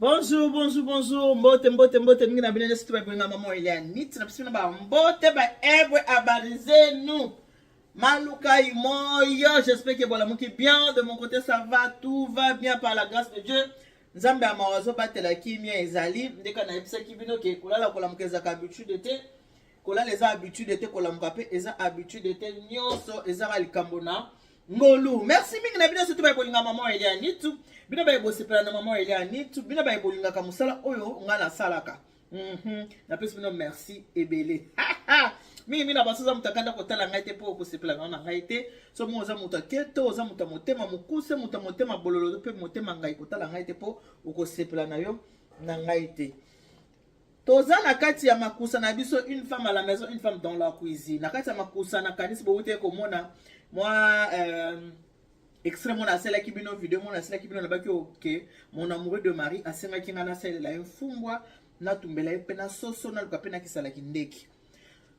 bonjour bonjour bonjour mbote mbote mbote mingi na bino nyonso to bakolingama mwa eliane niti na biso na bambote baebre abarize nous malukai moyo j'espère que bolamuki bien de mon côté ça va tout va bien par la grâce de dieu nzambe ya mawa azobatela kimia ezali ndeka nayebisaki bino ke kolala kolamuka ezalaka habitude te kolala eza habitude te kolamuka mpe eza habitude te nyonso ezaka likambo na ngolu merci mingi na bino nyonso to baye kolinga mama elianitu bino baye bosepela na mama elianitu bino baye bolingaka mosala oyo ngai nasalaka Mm -hmm. napesi bino merci ebele mingi mingi na banso oza moto akanda kotala ngai te mpo okosepela nao na ngai te so mo oza moto aketo oza moto ya motema mokuse moto ya motema bololo mpe motema ngai kotala ngai te mpo okosepela na yo na ngai te toza na kati ya makusa na biso une femme à la maison une femme dans la cuisine na kati ya makusa nakanisi bowutaki komona mwa euh, extrait mona asalaki bino video mona asalaki bino nabaki oke oh, mon amoureux de marie asengaki ngai nasalela ye mfumbwa natumbela ye mpe na soso naluka mpe nakisalaki ndeke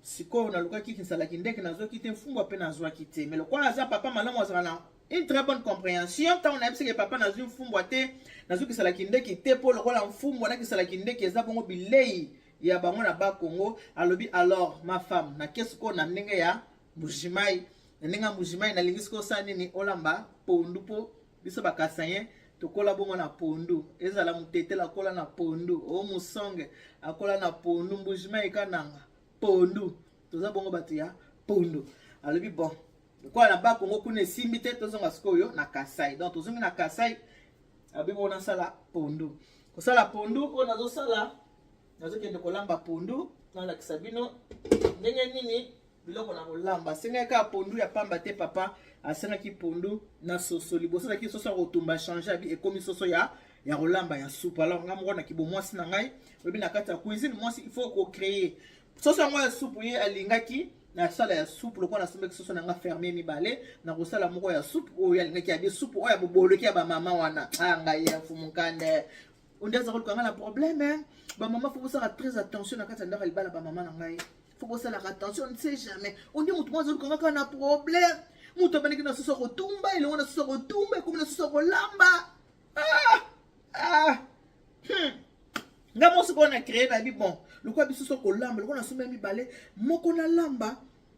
sikoyo nalukaki kisalaki ndeke nazwaki te mfumbwa mpe nazwaki te me lokola aza papa malamu azala na une très bonne compréhension ntango nayebisaki papa nazwi mfumbwa te nazwi kisalaki ndeke te mpo lokola mfumbwa na kisalaki ndeke eza bongo bilei ya bango na bakongo alobi alors ma femme na kesi koyo na ndenge ya Mbujimayi na ndenge ya Mbujimayi nalingi sikoyo osala nini olamba pondu mpo biso bakasayen tokola bongo na pondu ezala mutetela akola na pondu o musonge akola na pondu Mbujimayi kananga pondu toza bongo bato ya pondu alobi bon lokola na bakongo kuna esimbi te tozonga sikoyo na kasai donc tozongi na kasai abi bongo nasala pondu kosala pondu oyo nazosala nazokende kolamba pondu nalakisa bino ndenge nini biloko na kolamba asengaki kaka pondu ya pamba te papa asengaki pondu na soso liboso azalaki soso ya kotumba change abi ekomi soso ya ya kolamba ya supu alors ngai moko na kibomwasi na ngai oyebi na kati ya cuisine mwasi il faut kocreye soso yango ya supu ye alingaki nasala ya supu lokola nasombaki soso na nga ferme mibale nakosala moko ya supu oyo alingaki yabi supu oyo ya boboloki ya bamama wana a ah, ngai ya mfumukande onde aza koluka ngai na probleme bamama fo bosala très attention na kati ya ndako ya libala bamama na ngai fo bosalaka attention ne sait jamais ondi motu mwa azoluka kaka na problème motu abandaki na susu akotumba elongo na susu akotumba ekomi na susu akolamba ah! ah! hmm. nga mo sikoyo na créé na bi bon lokola biso so kolamba lokola nasombi ya mibale moko nalamba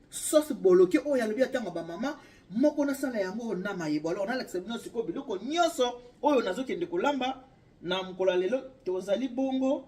sauce boloke oyo alobi atanga bamama moko nasala yango na mayebo alors nalakisa bino sikoyo biloko nyonso oyo nazokende kolamba na mokolo ya lelo tozali bongo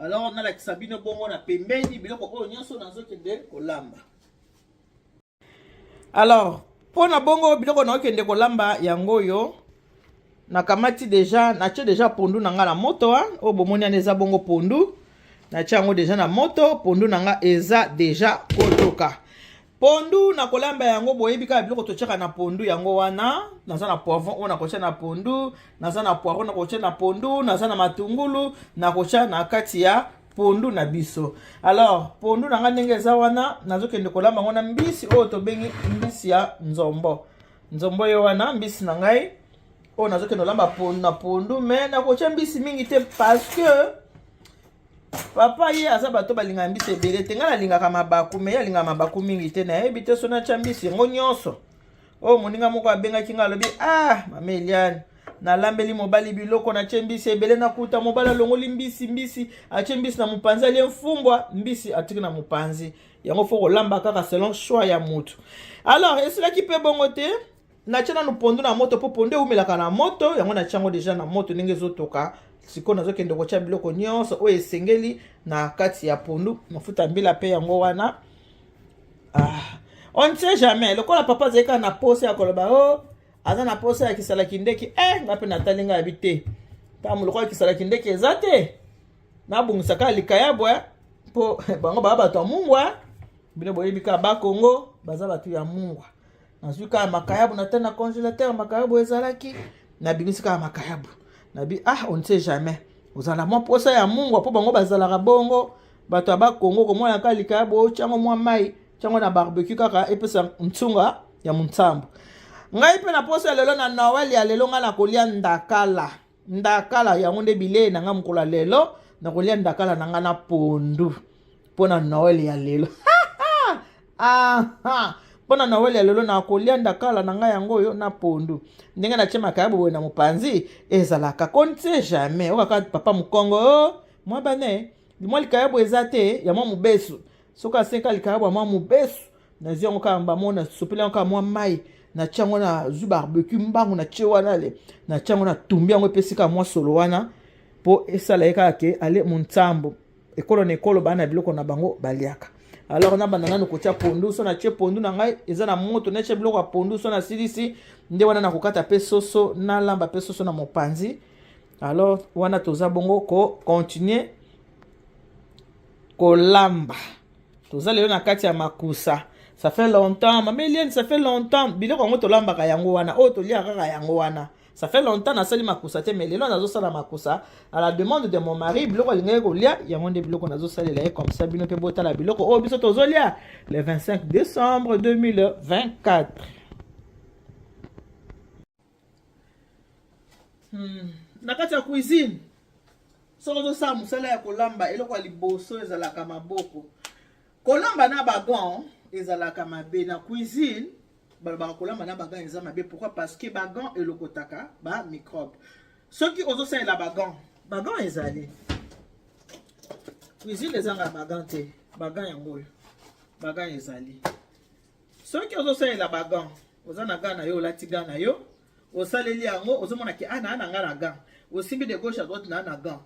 Alors nalakisa bino bongo na pembeni biloko oyo nyonso nazokende kolamba. Alors mpo na bongo biloko naokende kolamba yango oyo nakamati deja natye deja pondu na ngai na moto wa oyo bomoni ana eza bongo pondu natye yango deja na moto pondu na ngai eza deja kotoka pondu na kolamba yango boyebi kaka biloko totyaka na pondu yango wana naza na poivron oyo nakotya na pondu naza na poivron nakotya na pondu naza na matungulu nakotya na kati ya pondu na biso alors pondu na ngai ndenge eza wana nazokende kolamba yango na mbisi oyo tobengi mbisi ya nzombo nzombo ye wana mbisi na ngai oyo nazokende kolamba pondu na pondu me nakotya mbisi mingi te parce que papa ye aza bato balingaka mbisi ebele te ngai nalingaka mabaku me ye alingaka mabaku mingi te nayebi te so natya mbisi yango nyonso oyo oh, moninga moko abengaki ngai alobi ah mama eliane nalambeli mobali biloko natye mbisi ebele nakuta mobali alongoli mbisi mbisi atye mbisi na mopanzi alie mfumbwa mbisi atiki na mopanzi yango fo kolamba kaka selon choix ya motu alors esilaki mpe bongo te Natya nanu pondu na moto mpo pondu ewumelaka na moto, yango natya yango deja na moto ndenge ezotoka. Sikoyo nazokende kotya biloko nyonso oyo esengeli na kati ya pondu. Mafuta ya mbila mpe yango wana. Ah. On ne sait jamais. Lokola papa azali kaka na posa ya koloba o oh, aza na posa ya kisala kindeki e eh, nga mpe natali nga yabi te. Ntango lokola kisala kindeki eza te nabongisaka likayabwa eh, mpo bango baa bato ya mungwa bino boyebi kaka bakongo baza bato ya mungwa nazwi kaka makayabu na tani na congélateur makayabu ezalaki nabimisi kaka makayabu nabi ah on ne sait jamais ozala mwa mposa ya mungwa mpo bango bazalaka bongo bato ya bakongo komona kaka likayabu otyango mwa mai tyango na barbecue kaka epesa nsunga ya monsambo ngai mpe na mposa ya lelo na noel ya lelo ngai nakolia ndakala ndakala yango nde bilei na ngai mokolo ya lelo nakolia ndakala na ngai na pondu mpo na noel ya lelo mpo na noel ya lelo nakolia ndakala na ngai yango oyo na pondu ndenge natye makayabo boye na mopanzi ezalaka kontie jamais okaka papa mokongo oh, mwa bane mwa likayabo eza te ya mwa mobesu soki asenka likaya bwa mwa mobesu nazwi yango kaka bamo nasopeli yango kaka mwa mai natya yango nazwi barbecue mbangu natye wana le natya yango natumbi yango epesi kaka mwa solo wana mpo esala ye kaka ke ale monsambo ekolo na ekolo bana na biloko na bango baliaka alors nabanda nanu kotya pondu so natye pondu na ngai eza na moto natye biloko ya pondu so nasilisi nde wana nakokata mpe soso nalamba mpe soso na mopanzi alors wana toza bongo kocontinue kolamba toza lelo na kati ya makusa ça fait longtemps mama eliane ça fait longtemps biloko yango tolambaka yango wana oyo toliaka kaka yango wana ça fait longtemps nasali makusa te mais lelo nazosala makusa à la demande de mon mari biloko alingaki kolia yango nde biloko nazosalela ye comme ça bino mpe botala biloko oyo biso tozolia le 25 décembre 2024 Hmm. na kati ya cuisine soki ozosala mosala ya kolamba eloko ya liboso ezalaka maboko kolamba na bagan ezalaka mabe na cuisine balobaka kolamba na bagan eza mabe pourquoi parce que bagan elokotaka ba microbe soki ozosalela bagan bagan ezali cuisine ezanga bagan te bagan yango oyo bagan ezali soki ozosalela bagan oza na gan na yo olati gan na yo osaleli yango ozomona ke ana ah, na nga na gan osimbi de gauche à droite na na gan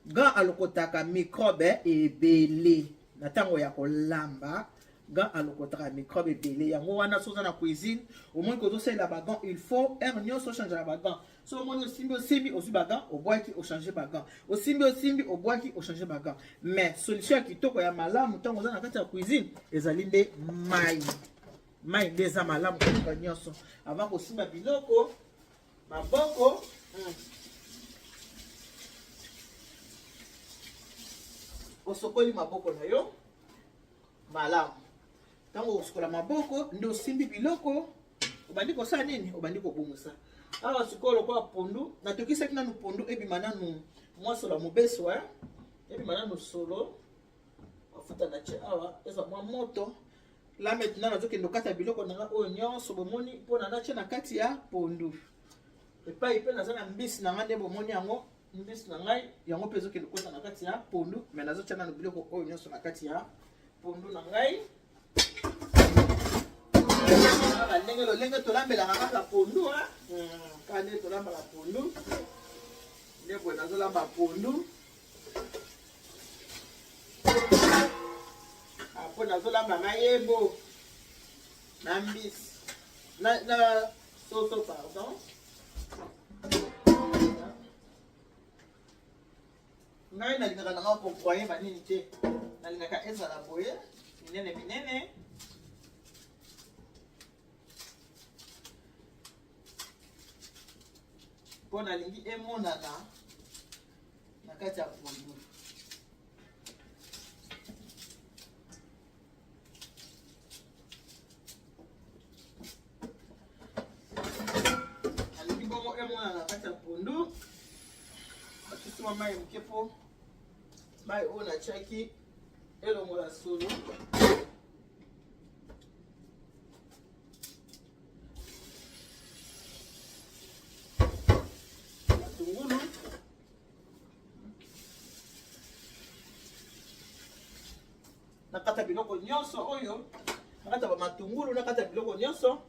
gan alokotaka microbe ebele na ntango ya kolamba gan alokotaka microbe ebele yango wana soki oza na cuisine omoni kozosalela bagan il faut heure nyonso ochangeaka bagan so omoni osimbi osimbi ozwi bagan obwaki ochange bagan osimbi osimbi obwaki ochange bagan mais solution ya kitoko ya malamu ntango oza na kati ya cuisine ezali nde mai mai nde eza malamu koleka nyonso avant kosimba biloko maboko hmm. osokoli maboko na yo malamu ntango okosukola maboko nde osimbi biloko obandi kosala nini obandi kobongisa awa sikoyo lokola pondu natokisaki nanu pondu ebima nanu mwa solo ya mobeso eh? ebima nanu solo mafuta na tie awa ezwa mwa moto la maintenant nazokende okata biloko na nga oyo nyonso bomoni mpona natie na kati ya pondu epai mpe naza na mbisi na nga nde bomoni yango mbisi na ngai yango mpe ezokende kota na kati ya pondu me nazotya nano biloko oyo nyonso na kati ya pondu na ngai kaka ndenge lolenge tolambelaka kaka pondu kaka ndenge tolambaka pondu nde boye nazolamba pondu apo nazolamba mayebo na mbisi Soso pardon. ngai nalingaka nanga kovoye banini te nalingaka ezala boye minene minene mpo nalingi emonana na kati ya pondu alingi bongo emona na kati ya pondu bakisi mwa mai moke mpo mai oyo natyaki elongola solo nakata biloko nyonso oyo nakata bamatungulu nakata biloko nyonso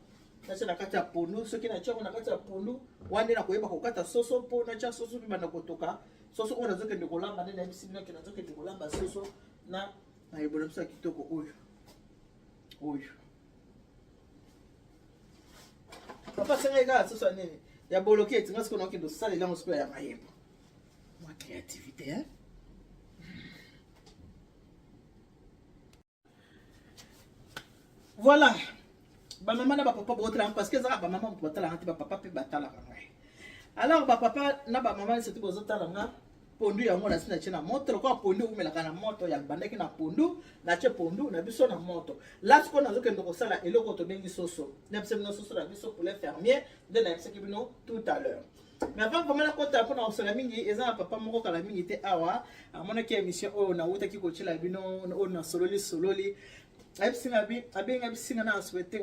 natya na kati ya pondu soki natya yango na kati ya pondu wana nde nakoyeba kokata soso mpo natya soso mpe banda kotoka soso oyo nazokende kolamba nde nayebisi bino ke nazokende kolamba soso na mayebola biso ya kitoko oyo oyo papa asengaki kaka soso ya nini ya boloki eti nga sikoyo nakokende osalela yango sikoyo ya mayebo mwa créativité hein Voilà. Ba maman na ba papa bo tala parce que za ba maman bo tala te ba papa pe ba tala nga. Alors ba papa na ba maman c'est tout bo tala nga. Pondu yango na sina chena moto kwa pondu umela kana moto ya bandaki na pondu na che pondu na biso na moto. Last ko na zo kendo ko sala eloko to bengi soso. Na biso na soso na biso poulet fermier de na biso kibino tout à l'heure. mais avant vraiment nakota mpona kosala mingi eza na papa moko kala mingi te awa amonaki émission oyo nawutaki kotyela bino oyo nasololi sololi ayebisinga abenga bisinga na asouhaite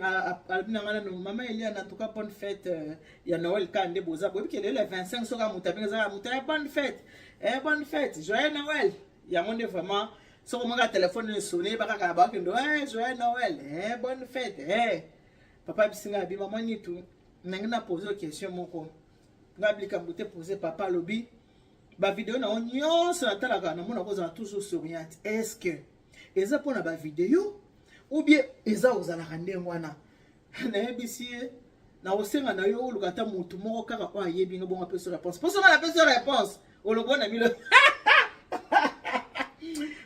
alobi na ngai nano mama elia na tuka bonne fête euh, ya noel ka nde boza boyebi ke lelo ya 25 soki amuta abenga ezaka muta ya bonne fête eh, bonne fête joyeux noel yango nde vraiment soki omaka telefone esone bakaka bakendo eh, joyeux noel eh, bonne fête eh. papa bisinga abi mama nitu nangi na pose yo question moko nga likambo te pose papa alobi bavideo na yo nyonso natalaka namona kozala toujours souriante est ce que eza mpona bavideo ou bien eza ozalaka ndenge wana nayebisi ye nakosenga na yo oluka ata motu moko kaka oyo ayebi nga bongo apesi réponse mpo soki napesi réponse olobwa na milo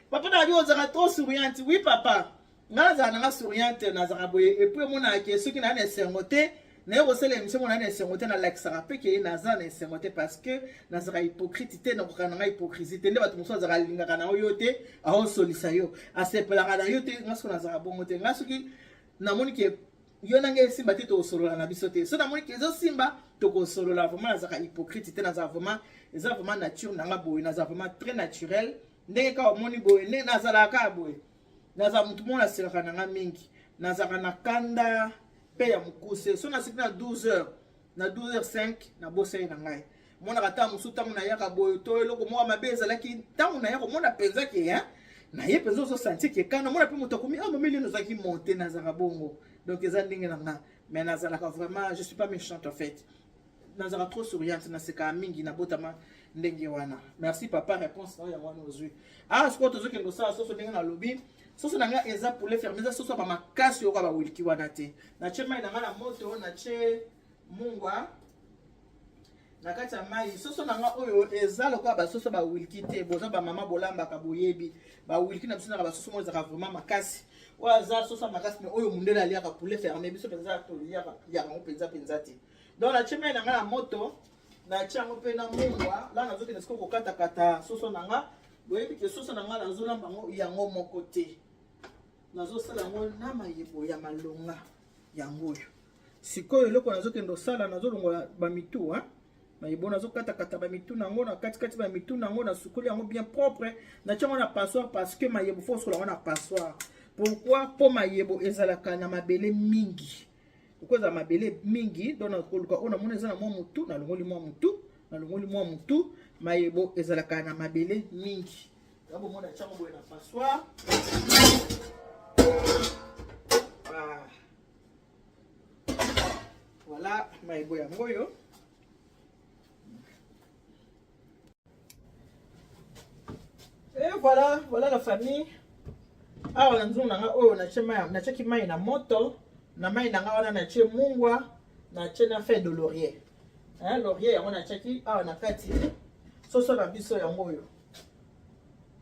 papa na yo ozalaka trop souriante oui papa nga nazala nanga souriante nazaka boye epuis emonaka ke soki naa na esengo te naye kosala emission monaa na esengo te nalakisaka mpe keye naza na esengo te parce que nazaka hypocrite te nakoka nanga hypocrisie te nde bato mosusu azaka alingaka na yo te aosolisa yo asepelaka na yo te nga soki nazaka bongo te nga soki namoni ke yo na ngai esimba te tokosolola na biso te so namoni ke ezosimba tokosolola vraiment nazaka hypocrite te nazaka vraiment eza vraiment nature nanga boye nazaka vraiment très naturel ndenge kaka omoni boye nde nazalaka kaka boye naza mutu moko nasekaka na nga mingi nazalaka na kanda mpe ya mokuse so naseki na 12 heures na 12 heures 5 nabosani na ngai monaka ntango mosusu ntango nayaka boye to eloko moko mabe ezalaki ntango naya komona mpenza ke hein? na ye mpenza ozosanti ke kana mona mpe moto akomi ah mameli eno ozalaki monte nazalaka bongo donc eza ndenge na nga mais nazalaka vraiment je suis pas méchante en fait nazalaka trop souriante nasekaka mingi nabotama ndenge wana merci papa réponse nayo yango wana ozwi awa ah, sikoyo tozokende kosala soso ndenge nalobi soso na ngai eza poulet ferme eza soso ya bamakasi oyoka bawiliki wana te natye mai na ngai na moto natye mungwa na kati ya mai soso na ngai oyo eza lokola basoso bawiliki te boza bamama bolambaka boyebi bawiliki na biso naka basoso moko ezalaka vraiment makasi oyo aza sosa makasi me oyo mundele aliaka poulet ferme biso mpenza toliaka yango mpenza mpenza te donc natie mai na ngai na moto natie yango mpe na mungwa la nazokende sikoyo kokatakata soso na nga boyebi ke soso na nga nazolamba yango yango moko te nazosala yango na mayebo ya malonga yango oyo Sikoyo eloko nazokende osala nazolongola bamitu hein? mayibo nazokata-kata bamitu na yango na katikati bamitu na yango nasukoli yango bien propre natya yango na passoire parce que mayebo fo osola yango na passoire pourquoi mpo mayebo ezalaka na mabele mingi okozala mabele mingi don nakoluka oyo namoni eza na mwa motu nalongoli mwa motu nalongoli mwa motu mayebo ezalaka na mabele mingi yakomona tyango boye na passoire ah. Voilà, mayibo yango oyo. Et voilà, voilà la famille. Awa na nzungu na nga oyo natyaki mai na moto na mai na nga wana natye mungwa natye na feuille de laurier laurier yango natyaki awa na kati soso na biso yango oyo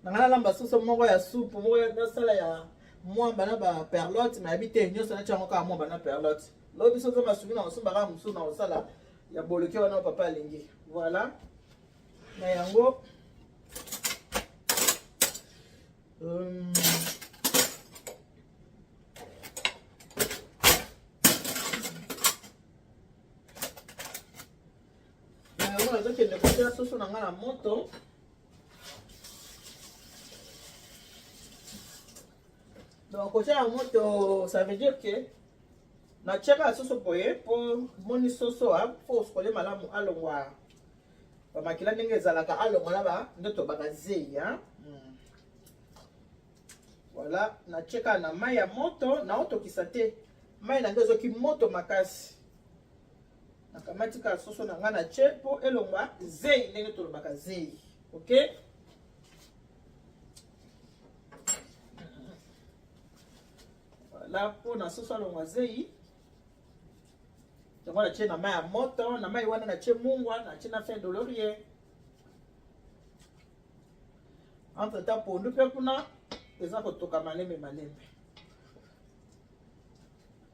nanga nalamba soso moko ya supu moko nasala ya mwamba na ba perlotte nayebi te nyonso nati yango kaka mwamba na perlotte lobi biso nzambe asungi na kosomba kaka mosusu na kosala ya boloke wana papa alingi voilà na yango um, na yango nazokende kotya soso na ngai na moto donc kotya na moto ça veut dire que natyaka ya soso boye mpo moni soso a mpo osokole malamu alongwa bamakila ndenge ezalaka alongwa na ba ndoto bakazei hmm. voilà natyeka na mai ya moto naotokisa te mai na nde ezoki moto makasi nakamati kaka soso na ngai na tye mpo elongwa zei ndenge tolobaka zei ok voilà mpo na soso alongwa zei yango natye na mai ya moto na mai wana natye mungwa natye na fin dolorie entre temps pondu mpe kuna eza kotoka malembe malembe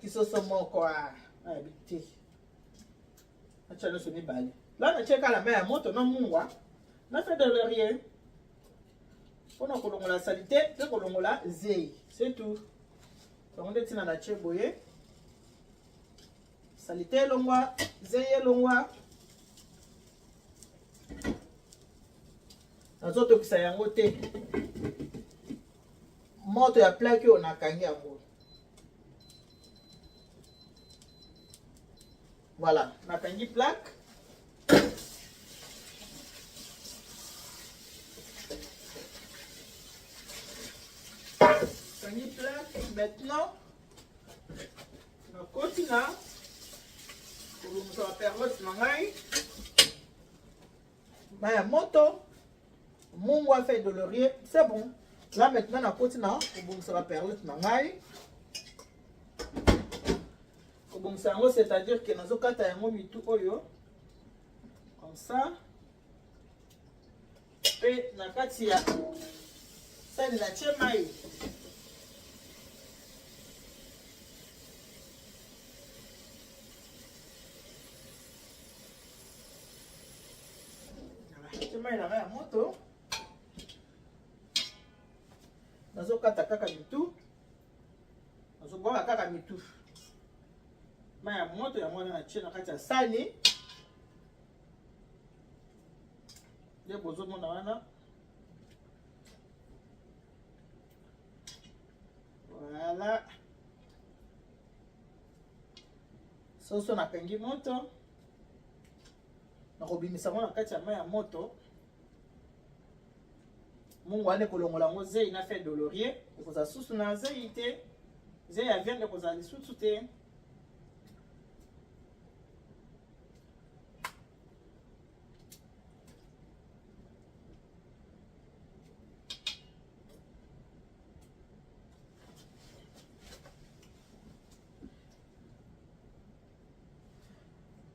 kisoso moko ayebi ah, te atya nyonso mibale la natye kala mai ya moto na mungwa na fe de laurier mpo na kolongola salite mpe kolongola zei setu yango nde ntina natye boye salite elongwa zei elongwa nazotokisa yango te moto ya plaki oyo nakangi yango voilà nakangi plaque nakangi plaque maintenant nakoti na kolongisa baperlose na ngai Maya moto mungu a fait de laurier c'est bon là maintenant nakoti na kobongisa ba perlette na ngai kobongisa yango c'est à dire que nazokata yango mitu oyo comme ça mpe na kati ya sani na tie mai mai na ngai ya moto nazokata kaka mitu nazobwaka kaka mitu mai ya moto ya mwana na tie na kati ya sani nde bozomona wana voilà soso nakangi moto nakobimisa yango na kati ya mai ya moto mungu wana ekolongola yango zei na fe dolorie ekozala susu na zei te zei ya viande ekozala lisusu te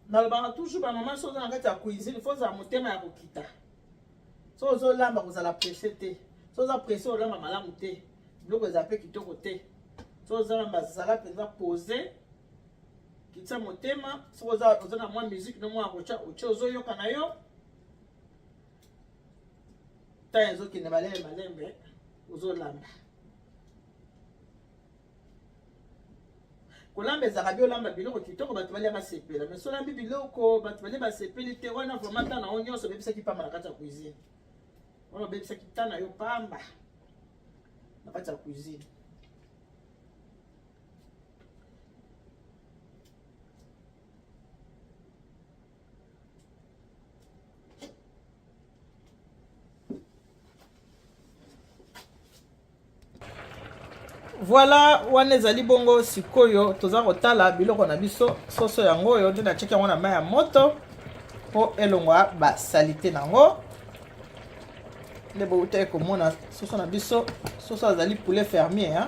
nalobaka toujours bamama so oza na kati ya cuisine fo ozala motema ya kokita so ozolamba kozala presse te so oza presse olamba malamu te biloko ezala mpe kitoko te so ozalamba zala mpenza pose kitisa motema soki oza na mwa musike no mwa akotya otye ozoyoka na yo ntango ezokende malembe malembe ozolamba kolamba ezalaka bi olamba biloko kitoko bato balia basepela mais solambi biloko bato balia basepeli te wana vraimen ntan na yo nyonso obebisaki mpamba na kati ya cuisine wana obebisaki ntan na yo mpamba na kati ya cuisine voilà wana ezali bongo sikoyo toza kotala biloko na biso soso yango oyo nde natyeki yango na mai ya moto mpo elongwa basalite na yango nde boutaki komona soso na biso soso azali poulet fermier hein?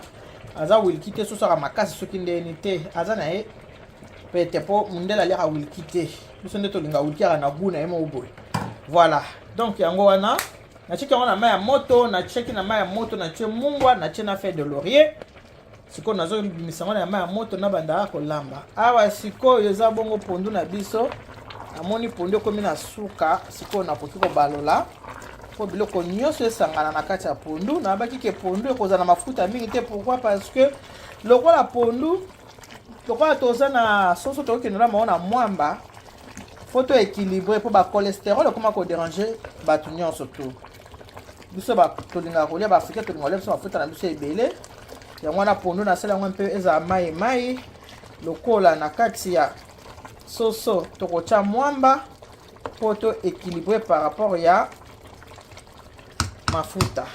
aza wilki te soso aka makasi soki ndeni te aza na ye pete mpo mondele aliaka wilki te biso nde tolinga wilki aka na gu na ye moko boye voilà donc yango wana natieki yango na mai ya moto natieki na mai ya moto natie mungwa natie na feuille de laurier sikoyo nazobimisa yango na mai ya moto nabandaka kolamba awa sikoyo eza bongo pondu na biso namoni pondu ekomi na suka sikoyo nakoki kobalola mpo biloko nyonso esangana na kati ya pondu nayabaki ke pondu ekozala na mafuta mingi te pourkui parce que lokola pondu lokola toza na soso tokokende na bango na mwamba fo to équilibre mpo bacolesterol ekoma koderange bato nyonso tu biso tolingaka kolia baafricain tolingaka kolia biso mafuta na biso ebele yango wana pondu nasala yango mpe ezala mai mai lokola na kati ya soso tokotya mwamba mpo to équilibre par rapport ya mafuta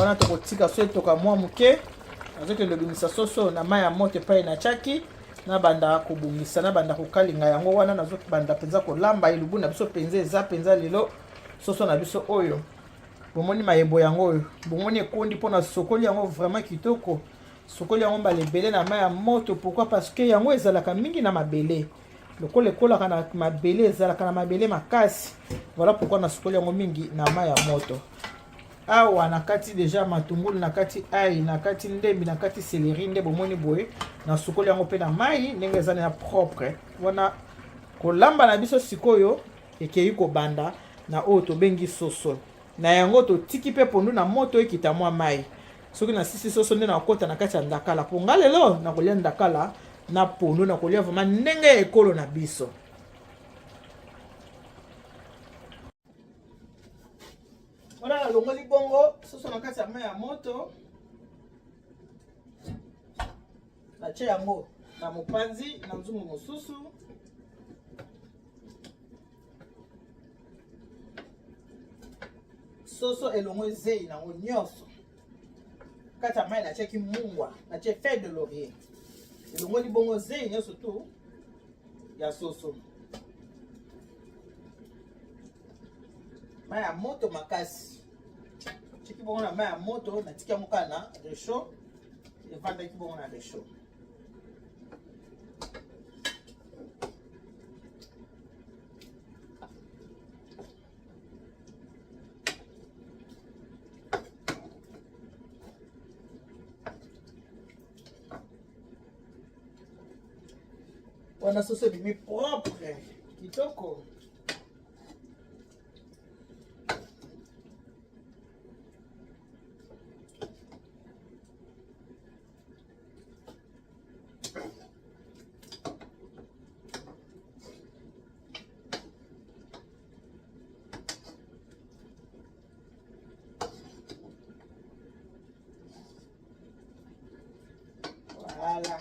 wana tokotika so etoka mwa moke nazokende lobimisa soso na mai ya moto epai natyaki nabanda kobongisa nabanda kokalinga yango wana nazobanda mpenza kolamba elubu na biso mpenza eza mpenza lelo soso na biso oyo bomoni mayebo yango oyo bomoni ekondi mpo na sokoli yango vraiment kitoko sokoli yango mbala ebele na mai ya moto pourkui parce que yango ezalaka mingi na mabele lokola ekolaka na mabele ezalaka na mabele makasi voilà pourquoi nasukoli yango mingi na mai ya moto awa nakati deja matungulu nakati ai nakati ndembi nakati seleri nde bomoni boye nasukoli yango mpe na mai ndenge eza na propre wana kolamba na biso sikoyo ekei kobanda na oyo tobengi soso na yango totiki mpe pondu na moto ekita mwa mai soki nasisi soso nde nakokota na kati ya ndakala mpo nga lelo nakolia ndakala na pondu nakolia vraimen ndenge ya ekolo na biso wana nalongoli bongo soso na kati ya mai ya moto natye yango na mopanzi na nzungu mosusu soso elongo ezei nango nyonso kati ya mai natiaki mungwa natie feuille de laurier elongoli bongo zei nyonso tu ya soso mai ya moto makasi tiki bongo na mai ya moto natiki yango kaka na rechaud efandaki bongo na rechaud wana soso ebimi propre kitoko Voilà.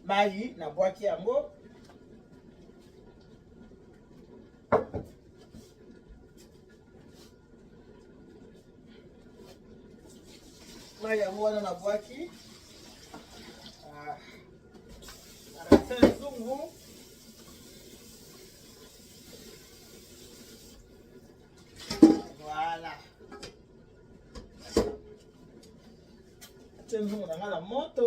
Mayi na bwaki yango mai yango wana na bwaki arasin ah. zungu voilà atie nzungu na ngai na moto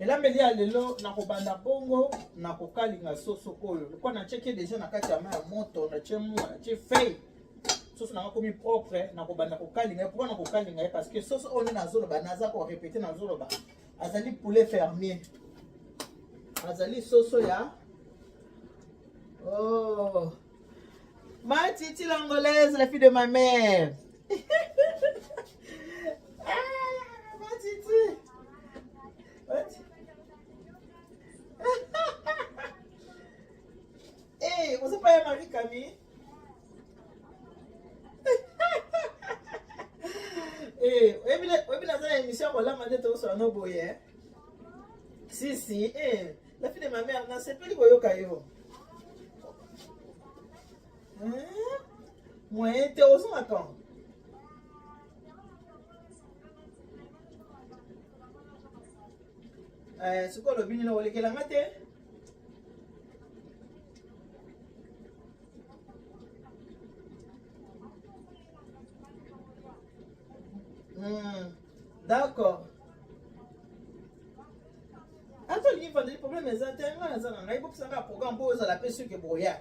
elambeli ya lelo nakobanda bongo na kokalinga soso oyo lokwa natyeki deja na kati ya mai ya moto natye mua natye fei soso nanga komi propre nakobanda kokalinga ye pourkui nakokalinga ye parce que soso oyo nde nazoloba naza korepete nazoloba azali poulet fermier azali soso ya oh. ma titi l'angolaise la fille de ma mère Eh, oyebi naza na émission ya kolama nde tokosala no boye eh? si si eh, la fille de ma mère nasepeli koyoka yo moyen te ozonga kan sikoyo olobi nini olekela nga te Hmm. D'accord. Ato lingi vandeli problème eza te ngai naza na ngai bokisa ngai programme mpo ozala mpe soki boya.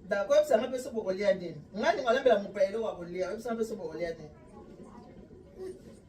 D'accord, yebisa ngai mpe soki bokolia nini. Ngai ningo alambela mopaya eloko ya kolia, yebisa ngai mpe soki bokolia nini.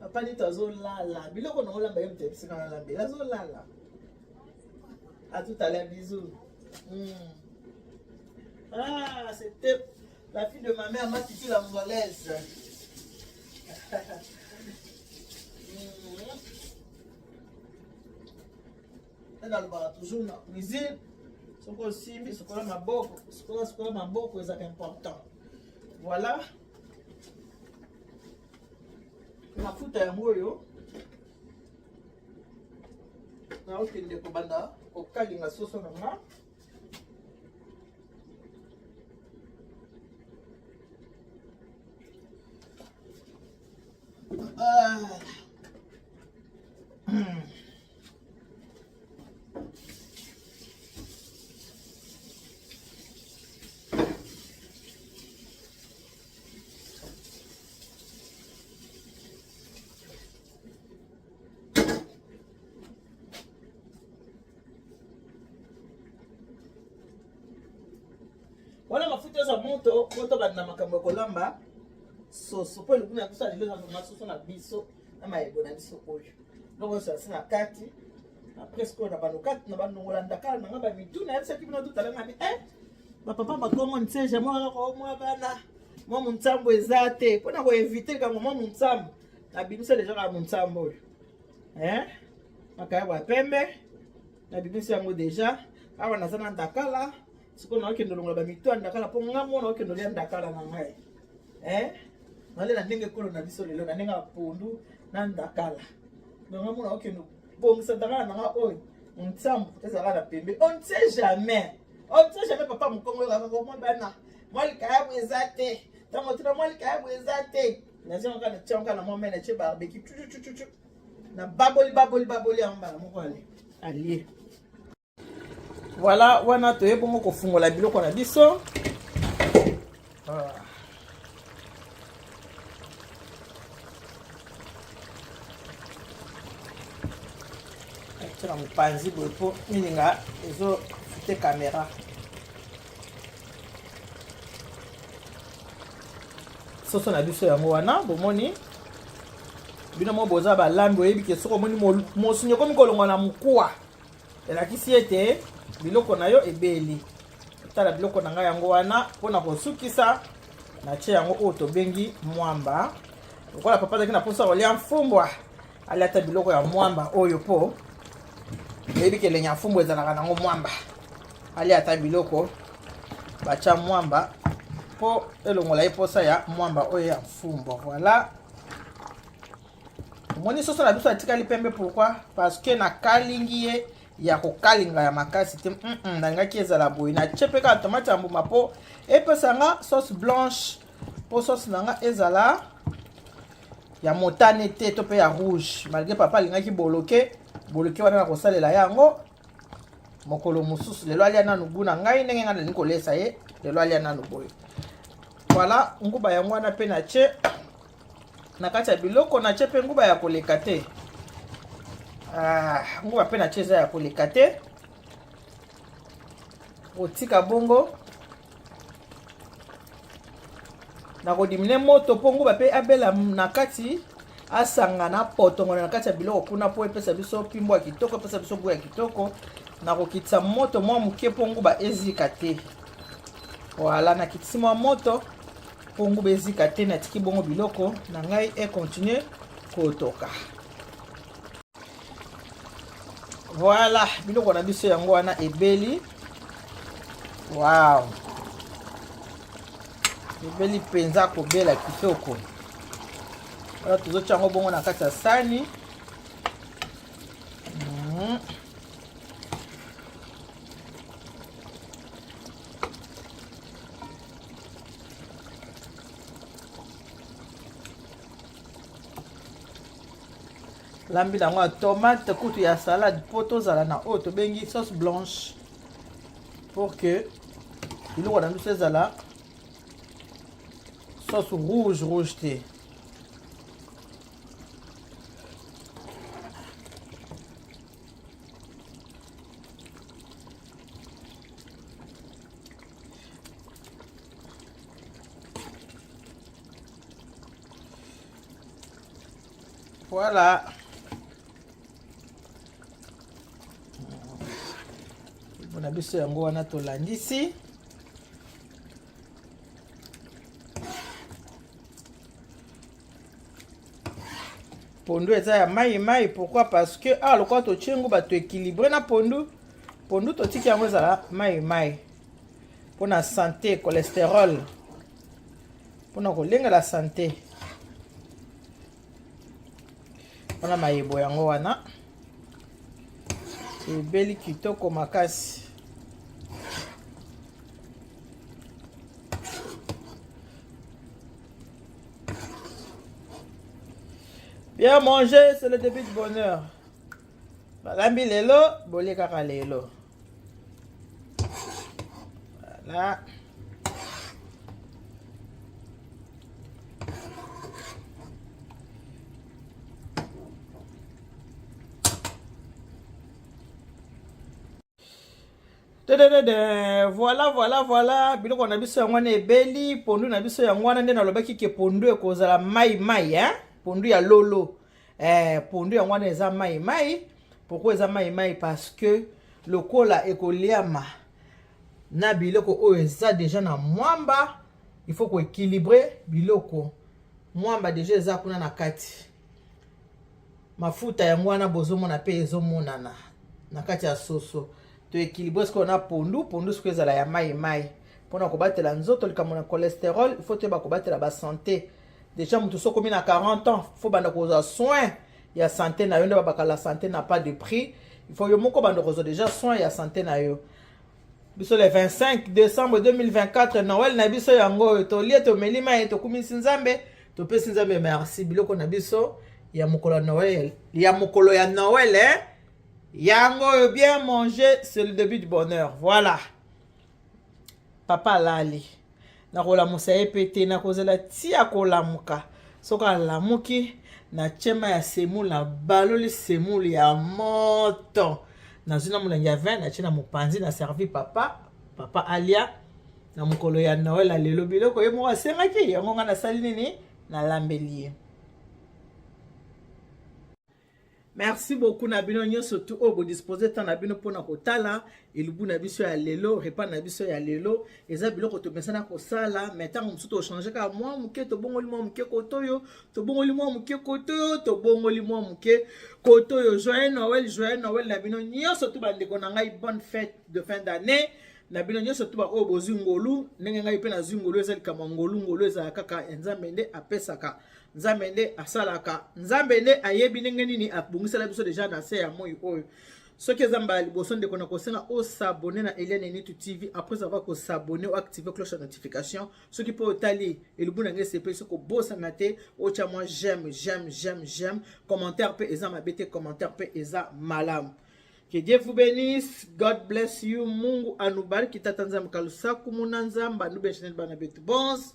papa nito azolala biloko nango lamba ye moto yebisika na lambela azolala atutala bizu hmm. ah c'était la fille de ma mère matiti la molaise nalobaka hmm. toujours na cuisine soki osimbi sukola maboko sukola sukola maboko ezaka important voilà mafuta yango oyo naokende kobanda kokalinga soso na nga wana mafuta eza moto poto banda makambo ya kolamba soso mpo elokuna biso alelo na soso na biso na mayebo na biso oyo eloko nyonso yasi na kati na presque oyo na banokati na banongola ndakala na nga bamituna yebisaki bino totalanga bi eh, bapapa bakongo nseja mwa bana mwa monsambo eza te mpo na koevite likambo mwa monsambo nabimisa deja kaka monsambo oyo eh, makayabo ya pembe nabimisi yango deja awa naza na ndakala sikoyo nakokende olongola bamitu ya ndakala mpo nga mwana okende olia ndakala na ngai eh? nalela ndenge ekolo na biso lelo na ndenge ya pondu na ndakala donga mwana okende bongisa ndakala na nga oyo nsambo ezalaka na pembe on ne sait jamais on ne sait jamais papa mokongo yokaka komwa bana mwa likayabu eza te ntango tuna mwa likayabu eza te nazongaka na tiango na mwa mai na tie barbeki tututututu na baboli baboli baboli yango mbala moko ale alie Voilà, wana toye bongo kofungola biloko na biso. Ah. Tira mopanzi boye mpo mininga ezofute kamera. soso na biso yango wana bomoni bino mo boza balambi oyebi ke soki omoni mosuni ekomi kolongwa na mokuwa elakisi ete biloko na yo ebeli tala biloko na ngai yango wana mpo na kosukisa natie yango oyo tobengi mwamba lokola papa azalaki na mposa ya kolya mfumbwa alya ata biloko ya mwamba oyo mpo eyebi kelenge ya mfumbwa ezalaka nango mwamba alya ata biloko batya mwamba mpo elongola ye mposa ya mwamba oyo ya mfumbwa voilà omoni soso na biso atikali pembe pourquoi parce que nakalingi ye ya kokalinga ya makasi te mm -mm, nalingaki ezala boye natye mpe kaka tomate ya mbuma mpo epesa nga sauce blanche mpo sauce na nga ezala ya motane te to mpe ya rouge malgre papa alingaki boloke boloke wana nakosalela yango mokolo mosusu lelo alia nanu gu na ngai ndenge ngai nalingi kolesa ye lelo alia nanu boye voilà nguba yango wana mpe na tie na kati ya biloko na tie mpe nguba ya koleka te ah, nguba mpe na tie eza ya koleka te otika bongo nakodimine moto mpo nguba mpe abela na kati asangana potongola na kati ya biloko kuna mpo epesa biso mpimbo ya kitoko epesa biso gout ya kitoko nakokitisa moto mwa moke mpo nguba ezika te wala nakitisi mwa moto mpo nguba ezika te natiki bongo biloko na ngai ekontinue kotoka Voilà, biloko na biso yango wana ebeli. Wow. Ebeli mpenza kobela kitoko. Wana tozotya yango bongo na kati ya sani. Mhm. lambi na yango ya tomate kutu ya salade mpo tozala na oyo tobengi sauce blanche pour que biloko na biso ezala sauce rouge rouge te Voilà. mpona biso yango wana tolandisi pondu eza ya mai mai pourquoi parce que awa ah, lokola totie yango bato équilibré na pondu pondu totiki yango ezala mai mai mpona sante cholesterol mpona kolengela sante mpona mayebo yango wana ebeli kitoko makasi bien manger c'est le début du bonheur balambi lelo bolie kaka lelo Voilà. voilà voilà voilà biloko na biso yango wana ebeli pondu na biso yango wana nde nalobaki ke pondu ekozala mai mai hein? pondu ya lolo eh, pondu yango wana eza mai mai pourkoi eza mai mai parce que lokola ekoliama na biloko oyo eza deja na mwamba il faut koéquilibre biloko mwamba deja eza kuna na kati mafuta yango wana bozomona mpe ezomonana na kati ya soso toéquilibre sikoyo na pondu pondu sikoyo ezala ya mai mai mpona kobatela nzoto likambo na cholesterol il faut toyeba kobatela basante Deja moto soki okomi na 40 ans fo banda kozwa soin ya sante na yo nde babaka la sante na pas de prix ifo yo moko banda kozwa deja soin ya sante na yo biso le 25 décembre 2024 noel na biso yango oyo tolie tomeli mai tokumisi nzambe topesi nzambe merci biloko na biso ya mokolo ya noel ya mokolo ya noel eh? yango oyo bien manger c'est le début du bonheur voilà papa alali nakolamusa ye mpe te nakozela ti akolamuka soki alamuki na chema ya semule nabaloli semule ya moto nazwi na molangi ya vin natye na mopanzi na servi papa papa alia na mokolo ya noel ya lelo biloko ye moko asengaki yango ngai nasali nini nalambeli ye Merci beaucoup na bino nyonso tu oyo bodispose ntan na bino mpo na kotala elubu na biso ya lelo repas na biso ya lelo eza biloko tomesana kosala mai ntango mosusu tochange kaka mwa moke tobongoli mwa moke kotoyo tobongoli mwa moke kotoyo tobongoli mwa moke kotoyo joyeux noel joyeux noel na bino nyonso tu bandeko na ngai bonne fête de fin d'année na bino nyonso tu baoyo bozwi ngolu ndenge ngai mpe nazwi ngolu eza likambo ya ngolu ngolu ezala kaka ya nzambe nde apesaka nzambe nde asalaka nzambe nde ayebi ndenge nini abongisela biso deja na se ya moi oyo soki eza mbala liboso ndeko na kosenga osabone na eliane nitu tv après avoir kosabone oactive cloche ya notification soki mpe otali elubu na ngai esepeli soki obosana te otya mwa j'aime j'aime j'aime j'aime commentaire mpe eza mabe te commentaire mpe eza malamu Que Dieu vous bénisse. God bless you. Mungu anubariki tata nzambe kalusaku muna nzambe anubeshenel bana betu bons.